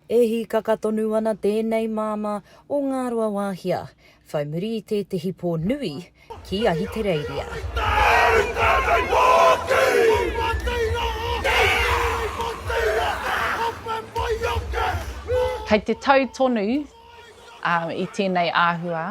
E hīkaka tonu ana tēnei māmā o Ngāruawāhia, whai muri i tētehi pō nui ki Ahitereiria. Kei te tau tonu i tēnei āhua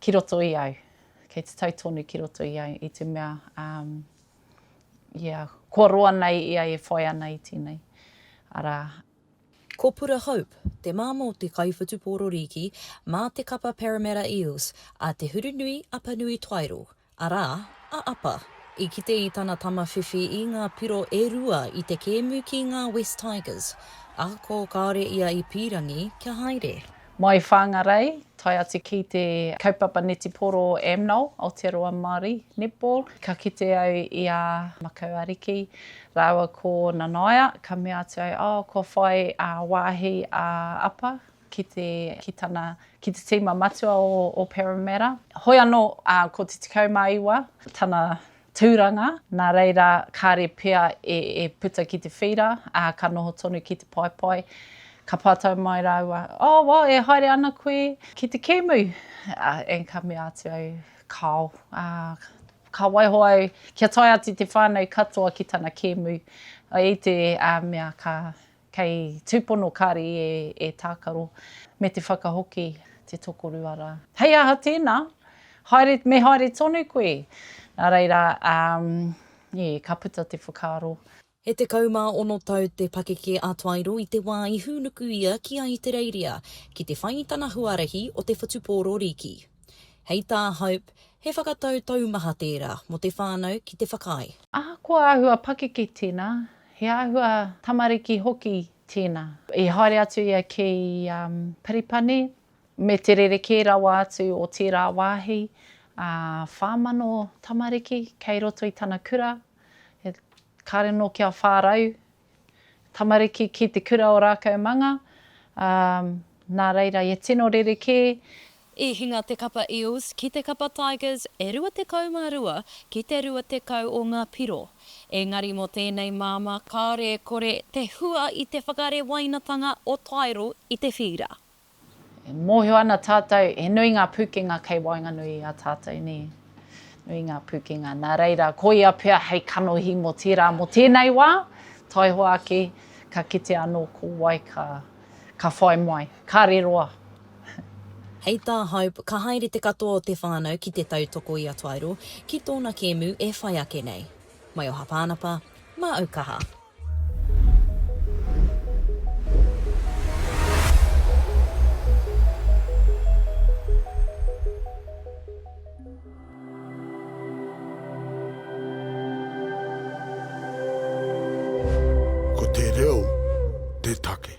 ki roto i au, kei te tau tonu ki roto i au i te mea. ia, kua roa nei ia e whai ana i tēnei, arā. Kopura Hope, te mā mō te kaiwhutupōro rīki mā te kapa Parramatta Eels a Te Hurunui Apanui Twaero, arā, a Apa, i kite i tana tama whiwhi i ngā piro e rua i te kēmu ki ngā Wests Tigers, ako kāore ia i pīrangi kia haere. Mai Whangarei, tae atu ki te kaupapa netiporo AMNOL, Aotearoa Māori Netball, ka kite au i a Makau Ariki rāua ko Nanaia, ka mea atu au, oh, kua whai wāhi a Apa ki te, ki tana, ki te tīma matua o, o Parramatta. Hoi anō, ko te 19 tana Tūranga, nā reira kāre pea e puta ki te whīra, ā, ka noho tonu ki te paepae. Ka pātai mai rāua, Oh, well, e haere ana koe ki te kēmu? And ka mea atu au, Kāo, ā, ka waiho au kia tae atu te whānau katoa ki tana kēmu. I te mea ka Kei tūpono kāre i e tākaro, me te whakahoki te tokorua rā. Hei aha tēnā? Haere, me haere tonu koe! Nā reira, ā, ē, ka puta te whakaaro. E tekau mā ono tau te pakeke a Tairo i te wā i hūnuku ia ki Ahitereiria ki te whai i tana huarahi o te whutupōro rīki. Hei tā Hope, he whakatau taumaha tērā mō te whānau ki te whakaae. Ahakoa āhua pakeke tēnā, He āhua tamariki hoki tēnā. I haere atu ia ki Paripani me te rerekē rawa atu o tērā wāhi, ā, whā mano tamariki kei roto i tana kura, kāre anō kia whā rau tamariki ki te kura o Rākaumanga, ā, nā reira ia tino rerekē I hinga te kapa Eels ki te kapa Tigers e 22 ki te 20 o ngā piro. Engari mō tēnei māmā kāore e kore te hua i te whakarewainatanga o Tairo i te whīra. E mōhio ana tātou he nui ngā pūkenga kei waenganui i a tātou, nē? Nui ngā pūkenga, nā reira, koia pea hei kanohi mō tērā, mō tēnei wā, taihoa ake, ka kitea anō ko wai ka Ka whai mai. Kare roa. Hei tā Hope, ka haere te katoa o te whānau ki te tautoko i a Tairo ki tōna kēmu e whai ake nei. Mai o Hapānapa, mā Aukaha. Ko te reo te take.